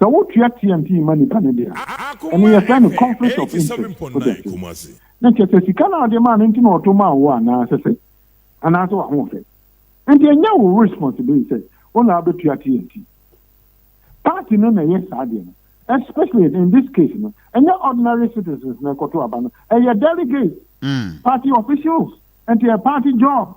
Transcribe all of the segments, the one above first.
Sɛ wo tua TMT ma nipa no de a, ɛno yɛ frɛ no conflict of interest, wo te ase? Na kyerɛ sɛ sika no a wo de maa no nti na ɔto maa wo anaa sɛ sɛ? Anaa sɛ w'ahoɔfɛ? Nti ɛnyɛ wo responsibility sɛ wo na wobɛ tua TMT. Party no na ɛyɛ saa deɛ no. Especially in this case no, ɛnyɛ ordinary citizens na ɛkɔto aba no, ɛyɛ delegates, party officials, nti ɛyɛ party job.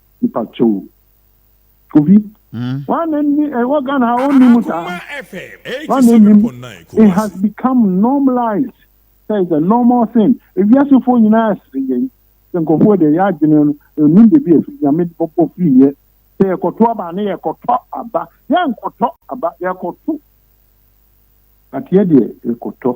Mpakyɛw o. Kofi, woa na nni ɛwɔ Ghana ha ɔnni mu saa? Woa na nni mu? It has become normalized sɛ it's a normal thing. Ewiase foɔ nyinaa sere yɛn sɛ nkurɔfoɔ deɛ yɛ adwene no ɛnnim baabi a ɛfiri. Nyame de bɔbɔ firi yɛ sɛ yɛkɔto aba a na yɛkɔtɔ aba. Yɛnkɔtɔ aba, yɛkɔto. But yɛ deɛ yɛkɔtɔ.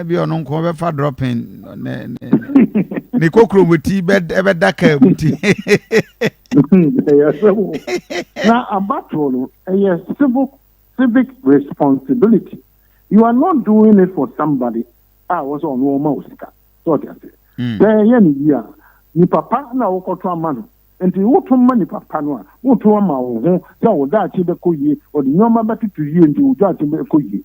ebi eh, ɔno nko bɛfa dropping ne ne ne kokoro mu ti bɛda kaa mu ti. ɛyɛ sɛ wo na abatoɔ no ɛyɛ civil civic responsibility you are not doing it for somebody a wɔn sɛ ɔno ɔma o sika sɛ ɔte ase sɛ ɛyɛ ne yie a nipa pa na wokɔto ama no nti woto ma nipa pa no a woto ama wo ho sɛ wo daakye bɛkɔ yie ɔde nneɛma bɛtoto yie nti wo daakye bɛkɔ yie.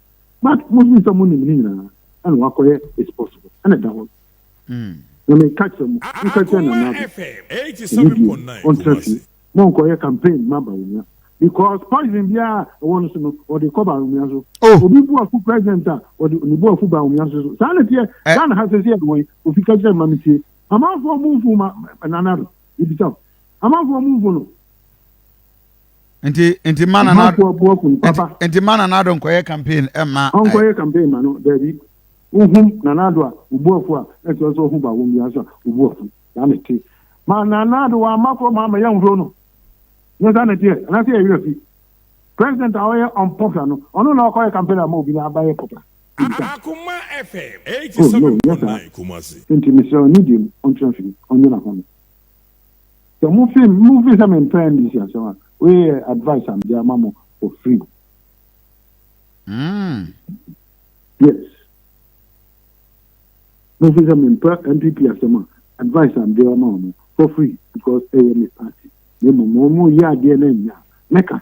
but mo fi sɛ mo nim ne nyinaa ɛna wakɔyɛ it's possible ɛna ɛda hɔ hmm. na me ka kyerɛ mo mo ka kyerɛ na naa ɛni bi ɔntena fi mo nkɔyɛ campaign ma bawumia because poison biara ɛwɔ no so no ɔde kɔ bawumia so oh. obi bu afu president a ɔde ne bu afu bawumia so so saa na tiɛ eh. ghana ha sɛ sɛ ɛwɔ yi ofi ka kyerɛ ma mi tie amanfoɔ mu nfu ma nana do ebi sa amanfoɔ mu nfu no. nti nti ma na na nti ma na nado nkɔyɛ campaign ɛma eh, ɔnkɔyɛ campaign ma no daabi wohum na nado a obuafu a ɛsɛ sɛ ɔho ba wɔn bi asa obuafu saa na ɛte ma na nado wa ama kɔ ma ama yɛn nhuro no nyɛ saa na ɛteɛ anaasɛ yɛ werɛ fi president a ɔyɛ unpopular no ɔno na ɔkɔyɛ campaign ama obi na abayɛ popular akoma fm 87.9 kumasi nti mesrɛ ɔne deɛ mu ɔntena fie ɔnyɛ n'ahome Sɛ mo fi mo fi sɛ me mpɛ NDC asɛm a, wei yɛ advice a mede ama mo for free. Mm. Yes. Mo fi sɛ me mpɛ NPP asɛm a, advice a mede ama mo for free because ɛyɛ me party. Ne mo mo mo yɛ adeɛ na nya mɛka.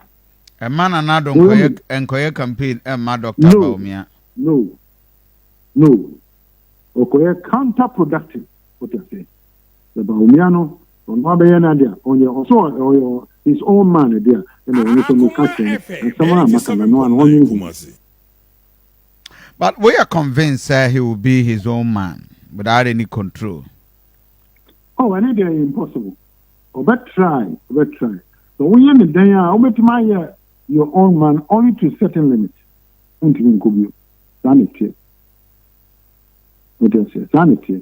Ɛma na nado nkɔyɛ nkɔyɛ campaign ɛma Dr. No. Baumia. No. No. Ɔkɔyɛ counterproductive. What you say? sɛ Bawumia no ɔno abɛyɛ n'ade a ɔnyɛ ɔsɛ ɔyɛ his own man de a ɛna ɔno nso meka kyerɛ no nsɛm a maka no no a na ɔnwene ho bi. But woyɛ convinced sɛ he will be his own man without any control? Oh ɛno deɛ ɛyɛ impossible ɔbɛ try ɔbɛ try sɛ woyɛ ne dɛn a wobɛtumi ayɛ your own man only to certain limit wontumi nkɔ bio saa na ɛteɛ wodeɛ sɛ saa na ɛteɛ